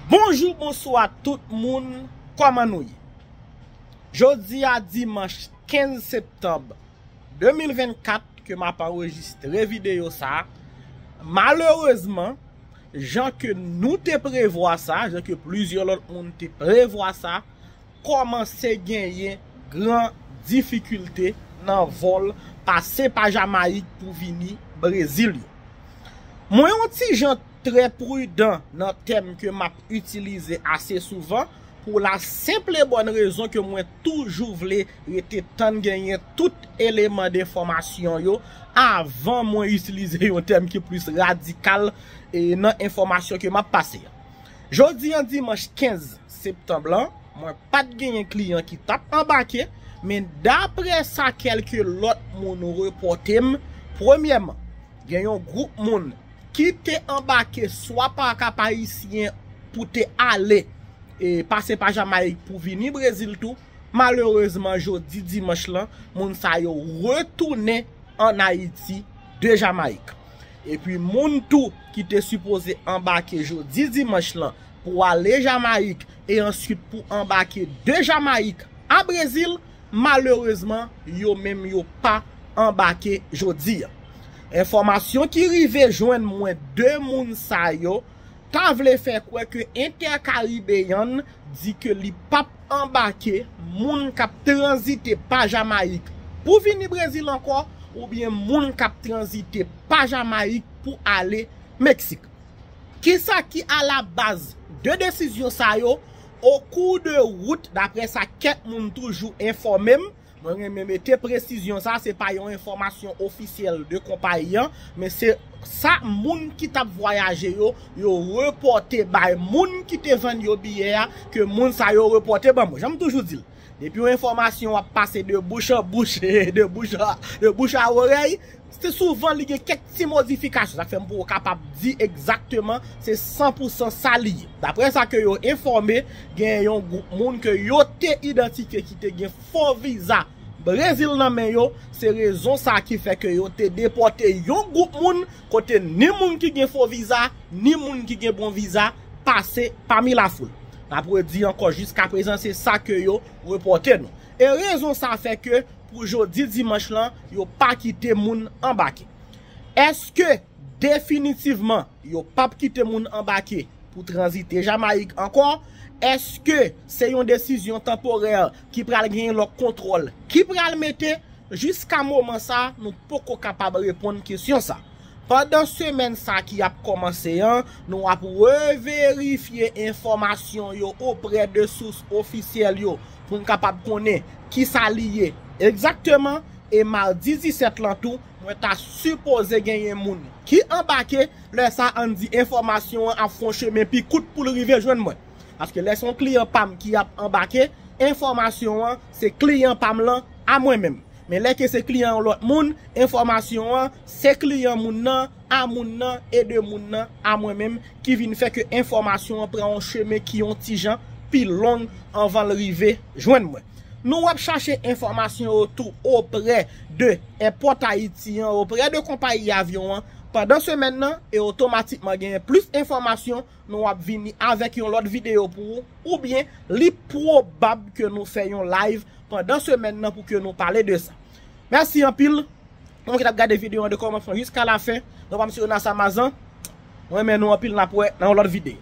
Bonjou bonswa tout moun kòman nou ye jodia dimanch 15 septanb 2024 ke map anrejistre video sa malerezman jan ke nou te prevwa sa jan ke plizyè lòt moun te prevwa sa kòmanse genyen gran difikilte nan vòl pase pa Jamayik pou vini Brezil yo. Mwen yon ti jan trè pridan nan tèm ke map itilize ase souvan pou la senpl e bòn rezon ke mwen toujou vle rete tann genyen tout eleman denfòmasyon yo avan mwen itilize yon tèm ki plis radikal nan enfòmasyon ke map pase a. Jodi an dimanch 15 septanb lan, mwen pa t genyen kliyan ki t ap anbake, men daprè sa kèlke lòt moun repòte m, premyèman, gen yon gwoup moun ki te anbake swa pa Kap-Ayisyen pou te ale, pase pa Jamayik pou vini Brezil tou, malerezman jodi dimanch lan, moun sa yo retounen an Ayiti. 2 Jamayik. Epi moun tou ki te sipoze anbake jodi dimanch lan pou ale Jamayik e answit pou anbake de Jamayik a Brezil, malerezman yo menm yo pa anbake jodi. Enfòmasyon ki rive jwenn mwen 2 moun sa yo, ta vle fè kwè ke Intercaribbean di ke li pap anbake moun kap tranzite pa Jamayik pou vini Brezil ankò oubyen moun kap tranzite pa Jamayik pou ale Meksik. Kisa ki a la baz 2 desizyon sa yo, o kou de wout, daprè sa kèk moun toujou enfòme m, Mwen renmen mete presizyon sa, se pa yon enfòmasyon ofisyèl de konpayi an, men se sa moun ki t ap vwayaje yo, yo repòte bay moun ki te vann yo biyè a, ke moun sa yo repòte ban mwen. Jan m toujou di l, depi yon enfòmasyon ap pase de bouch an bouch, de bouch a orèy, Se souvan li gen kèk ti modifikasyon, sa k fè m poko kapab di egzakteman se san pou san sa li ye. Daprè sa ke yo enfòme, gen yon gwoup moun ke yo te idantifye ki te gen fo viza Brezil nan men yo, se rezon sa ki fè ke yo te depòte yon gwoup moun kote ni moun ki gen fo viza, ni moun ki gen bon viza pase pami lafoul. N ap redi ankò jiskaprezan se sa ke yo repòte nou. E rezon sa fè ke Pou jodi dimanch lan, yo pa kite moun anbake. Eske definitivman yo pap kite moun anbake pou tranzite Jamayik ankò? Eske se yon desizyon tanporè ki pral genyen lòk kontwòl ki pral mete? Jiska moman sa, nou poko kapab reponn kesyon sa. Pandan semèn sa ki ap kòmanse an, nou ap reverifye enfòmasyon yo oprè de sous ofisyèl yo pou n kapab konnen ki sa li ye egzakteman e madi 17 lan tou mwen ta sipoze genyen moun ki anbake, lè sa an n di enfòmasyon an ap fè yon chemen pi kout pou l rive jwenn mwen paske lè se yon kliyan pa m ki ap anbake enfòmasyon an se kliyan pa m lan a mwen menm. Men lè ke se kliyan yon lòt moun, enfòmasyon an, se kliyan moun nan, a moun nan, e de moun nan, a mwen menm, ki vin fè ke enfòmasyon an pran yon chemen ki yon ti jan pi long anvan l rive jwenn mwen. Nou ap chache enfòmasyon yo tou oprè de èpòt Ayiti an, oprè de konpayi avyon an, pandan semèn nan, e otomatikman genyen plis enfòmasyon Nou ap vini avèk yon lòt videyo pou ou, oubyen li pwobab ke nou fè yon live pandan semèn nan pou ke nou pale de sa. Mèsi anpil pou moun ki tap gade videyo an de kòmansman jiska lafen. Nou pam se Yonas Amazan. Mwen renmen nou anpil nap wè nan yon lòt videyo.